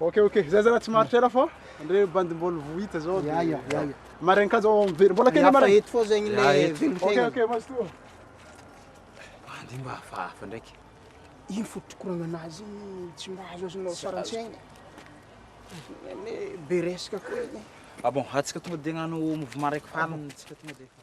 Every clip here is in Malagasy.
Ok ok zay zalahy tsy maharitra ela fa ndre bandy mbol vo hita zao de Aia aia Marin ka zao miverina mbola kely marin Eto fô zegny le velon tegna Ok ok mazotoa Bandy mba hafahafa ndraiky Ino fo pitokoragna anazy igny tsy mba azo azonao sary antsaigny Ane be resaka ko igny Ah bon atsika tonga de agnano mouvement raiky farany tsika tonga de efa.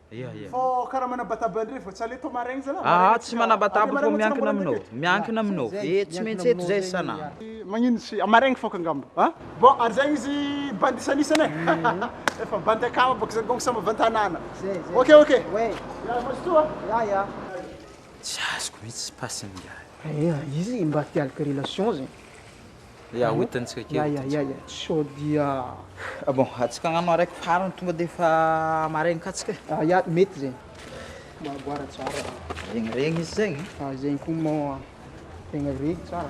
Ia ia. Fô karaha manabataba ndray fa tsy aller tô maraigny zala, Aa maraigna tsy tsika manabataba aller fô maraigna tsika miankina mbola aminao, mitete. miankina aminao, Zay, e tsy miankina maintsy eto aminao zay zany san'andro. e. Magnino tsy amaraigny fôka angamba a? Bon ary zegny izy bandy isanisany e, efa bandy akama bôka zany donc samy avy an-tanàna. Zay, zay. Ok ok. Ouais. Ya mazotoa a. Ya ya. Tsy azoko mihitsy passe-ny ingahy. Eeh izy mba te alika relation zegny. Ya hoentintsika kely hoentintsika. Sao dia ah bon antsika angamba maraiky farany tonga dia efa maraina katsika e. Ah ya mety zegny mahaboara tsara. Regniregny izy zegny. Ah zegny koa moa tegna regny tsara.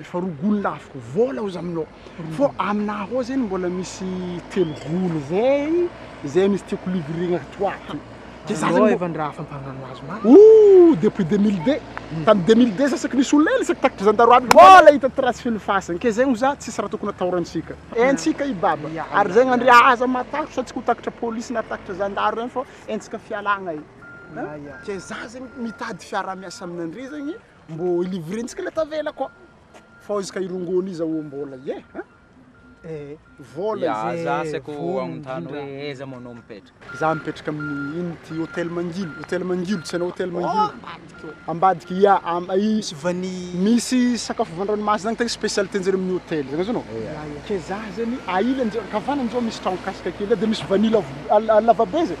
Efa roa golo laviko vola ozy aminao fô aminah ao zegny mbola misy telo golo zay zay misy tiako livrer-na ato ato de za zany mbô Ooh depuis deux mille deux tamy deux mille deux za saky nisy olona hely saky takatry zandaro aby mbôla hita trace feno fasana ke zegny ozy za tsisy raha tokony atahorantsika haintsika i baba ary zegny andry aza matahotra antsika ho takatra polisy na takatra zandaro regny fô haintsika fialagna e ke za zegny mitady fiarahamiasa aminandry zegny Mbô i livrentsika le tavela koa fô izy ka i rongony iza ô mbôla ie an e vôla ze vôla indrindra. Aza aseko anontany hoe aiza moa anao mipetraka? Za mipetraka amin'ny ino ty hôtel Mangilo, hôtel Mangilo tsy hainao hôtel Mangilo? Ambadika ia am i Misy vanille. Misy sakafo van-dranomasina agny tegna spécialité-njareo amin'ny hôtel zany azh anao? Ke za zany a ilany zao ankavanany zao misy tragno kasaka kely de misy vanille avo a lavabe zay.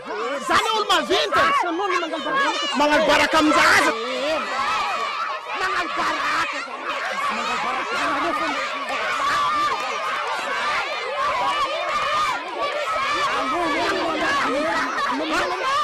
Zany hoe olo-maventy e! Magnano baraka amin-ja aza! Magnano baraka za aza! Magnano baraka anareo foana! Magnano baraka!